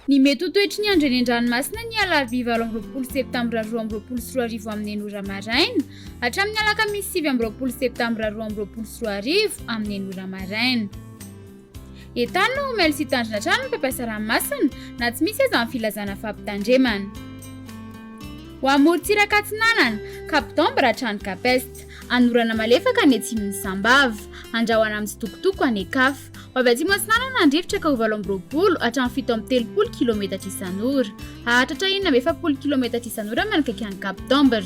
Ny mety ho toetry ny andro eny an-dranomasina ny alarobia valo amby roapolo septambra roa amby roapolo sy roa arivo amin'ny enina ora maraina hatramin'ny alakamisy sivy amby roapolo septambra roa amby roapolo sy roa arivo amin'ny enina ora maraina. Etan no omely sy hitandrina hatrany ny mpampiasa ranomasina na tsy misy aza ny filazana fampitandremana. Ho an'ny morontsiraka atsinanana, Cap d'Ambre hatrany Cap Est, any orana malefaka any atsimon'i Sambava, andrahona amin'ny tsitokotoko any Ekaf. Ho avy atsimo atsinanana ny rivotra ka ho valo amby roapolo hatramin'ny fito amby telopolo kilometatra isan'ora. Hahatratra enina amby efapolo kilometatra isan'ora manakaiky an'i Cap d'Ambre.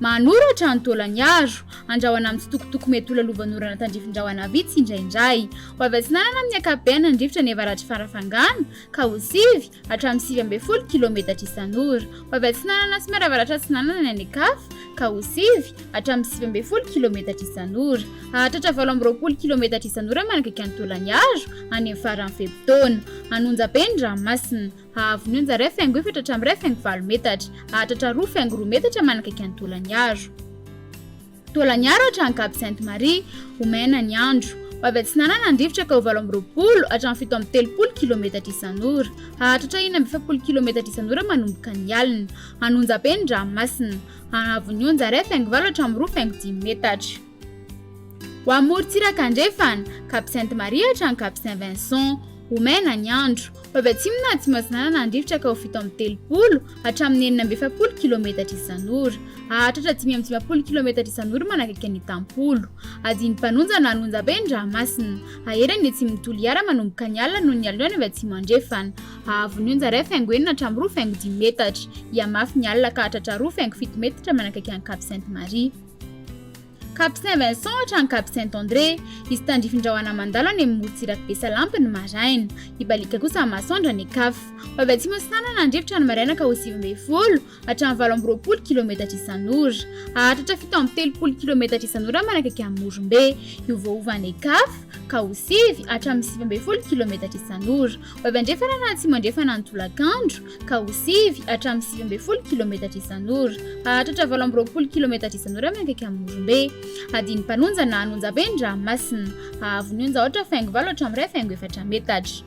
Manoratra ny Taolaniaro. Andrahona amin'ny tsitokotoko mety ho lalovan'orana tandrifin-drahona vitsy indraindray. Ho avy atsinanana amin'ny ankapobeany ny rivotra ny avaratr'i Farafangana, ka ho sivy hatramin'ny sivy ambin'ny folo kilaometatra isan'ora. Ho avy atsinanana sy miara-avaratra-atsinanana ny any an-kafa, ka ho sivy hatramin'ny sivy ambin'ny folo kilaometatra isan'ora. Hahatratra valo amby roapolo kilaometatra isan'ora manakaiky an'i Taolaniaro, any amin'ny faran'ny fe-potoana. Hanonja be ny ranomasina. Hahavonio ny zaray faingo efatra hatramin'ny iray faingo valo metatra. Hahatratra roa faingo roa metatra manakaiky an'i Taolaniaro. Taolaniaro hatrany Cap Sainte-Marie. Ho maina ny andro. Ho avy atsinanana ny rivotra ka ho valo amby roapolo hatramin'ny fito amby telopolo kilometatra isan'ora. Hahatratra enina amby efapolo kilometatra isan'ora manomboka ny alina. Hanonja be ny ranomasina. Hahavonio ny zaray faingo valo hatramin'ny roa faingo dimy metatra. Ho amorontsiraka andrefana, Cap Sainte Marie hatrany Cap Saint Vincent. Ho mena ny andro. Ho avy atsimo na atsimo atsinanana handrifotra ka ho fito amby telopolo hatramin'ny enina amby efapolo kilometatra isan'ora. Hahatratra dimy amby dimampolo kilometatra isan'ora manakaiky ny tampolo. Adin'ny mpanonja na lonjabe ny ranomasina. Hahery any atsimon'i Toliara manomboka ny alina noho ny haloany avy atsimo andrefana. Hahaavo ny onja iray faingo enina hatramin'ny roa faingo dimy metatra. Hihamafy ny alina ka hahatratra roa faingo fito metatra manakaiky an'i Cap Sainte Marie. Cap Saint Vincent hatrany Cap Saint André. Hisy tandrifin-drahona mandalo any amin'ny morontsirak'i Besalampy ny maraina. Hibaliaka kosa ny masoandro any Ekaf. Ho avy atsimo ny sanan' Andrifitrra ny maraina ka ho sivy ambin'ny folo hatramin'ny valo amby roapolo kilometatra isan'ora. Hahatratra fito amby telopolo kilometatra isan'ora manakaiky an'i Morombe. Hiovaova any Ekaf ka ho sivy hatramin'ny sivy ambin'ny folo kilometatra isan'ora. Ho avy andrefana na atsimo andrefana ny tolakandro. ka ho sivy hatramin'ny sivy ambin'ny folo kilometatra isan'ora. Hahatratra valo amby roapolo kilometatra isan'ora miankaiky amin'ny Morombe. Hadin'ny Mpanonja na Anonjabe ny ranomasina. Haavo ny onja ohatra faingo valo hatramin'ny iray faingo efatra metatra.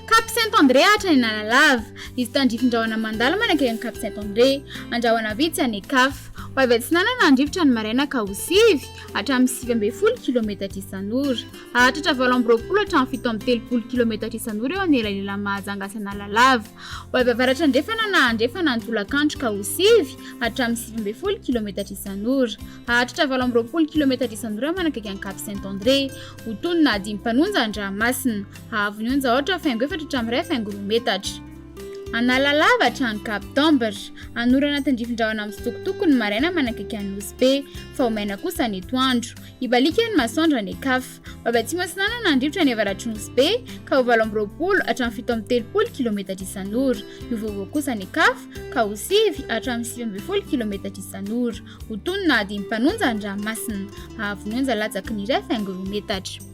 Cap Saint André hatrany Analalava. Hisy tandrifin-drahona mandalo manakaiky an'i Cap Saint André. Andrahona vitsy any Ecaf. Ho avy atsinanana ny rivotra ny maraina ka ho sivy hatramin'ny sivy ambin'ny folo kilometatra isan'ora. Hahatratra valo amby roapolo hatramin'ny fito amby telopolo kilometatra isan'ora eo anelanelan'i Mahajanga sy Analalava. Ho avy avaratra andrefana na andrefana ny tolakandro ka ho sivy hatramin'ny sivy ambin'ny folo kilometatra isan'ora. Hahatratra valo amby roapolo kilometatra isan'ora manakaiky an'i Cap Saint André. Ho tony na dimy mpanonja an-dranomasina. Haavo ny onja aotra faingo efatra hatramin'ny iray faingo roa metatra. Analalava hatrany Cap Tamber. Hanorana an-tandrifin-drahona mitsitokotoko ny maraina manakaiky an'i Nosy Be. Faomaina kosa ny etoandro. Hibaliaka ny masoandro any Ekaf. Babatsimo Atsinanana handripotra ny avaratry Nosy Be, ka ho valo amby roapolo hatramin'ny fito amby telopolo kilometatra isan'ora. Ny ho vaovao kosa any Ekaf, ka ho sivy hatramin'ny sivy ambin'ny folo kilometatra isan'ora. Ho tony na adin'ny mpanonja ny ranomasina. Hahavy ny onja latsaky ny iray faingo roa metatra.